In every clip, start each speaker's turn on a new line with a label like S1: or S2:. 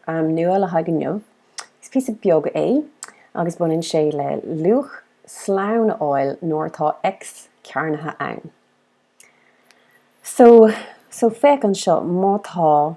S1: Nua le haghaidh inniu. Is píosa beag é agus baineann sé le luach slán a fháil nuair atá X cearnaithe ann. So féach anseo, má tá.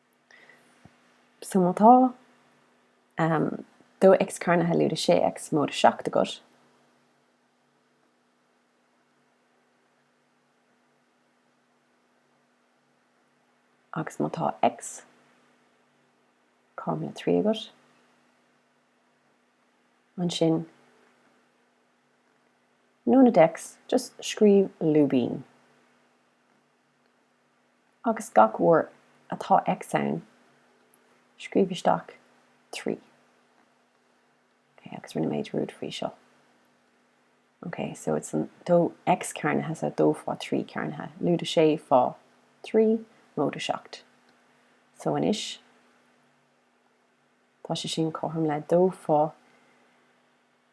S1: So má tá, em, dó X cearnaithe lúide sé X móide seacht agat, agus má tá X cothrom le trí agat, ansin, in ionad X, just scríobh lúibín. Agus gach uair atá X ann, scríobh isteach trí. Ok, agus rinne muid rud faoi seo. Ok, so it's an dó X cearnaithe is ea dó fá trí cearnaithe. Lúide sé fá trí móide seacht. So anois, tá sé sin cothrom le dó fá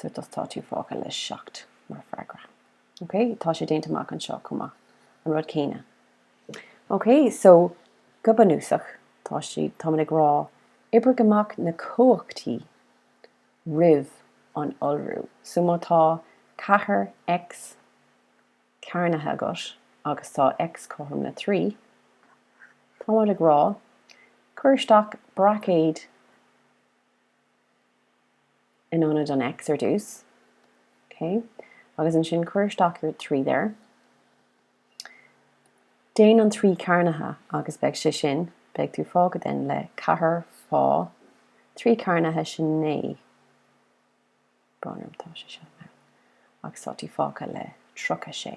S1: So tá tú fágtha le seacht mar freagra. Ok, tá sé déanta amach anseo chomh maith, an rud céanna. Ok, so go bunúsach, tá siad, táimid ag rá, oibrigh amach na cumhachtaí roimh an iolrú. So má tá ceathair X cearnaithe agat agus tá X cothrom le trí, táimid ag rá, cuir isteach braicéad, in ionad an X ar dtús, ok, agus ansin cuir isteach your 3 there, déan an 3 cearnaithe agus beidh sé sin, beidh tú fágtha then le ceathair fá 3 cearnaithe sin naoi, brón orm tá sé seo now, agus tá tú fágtha le tríocha sé.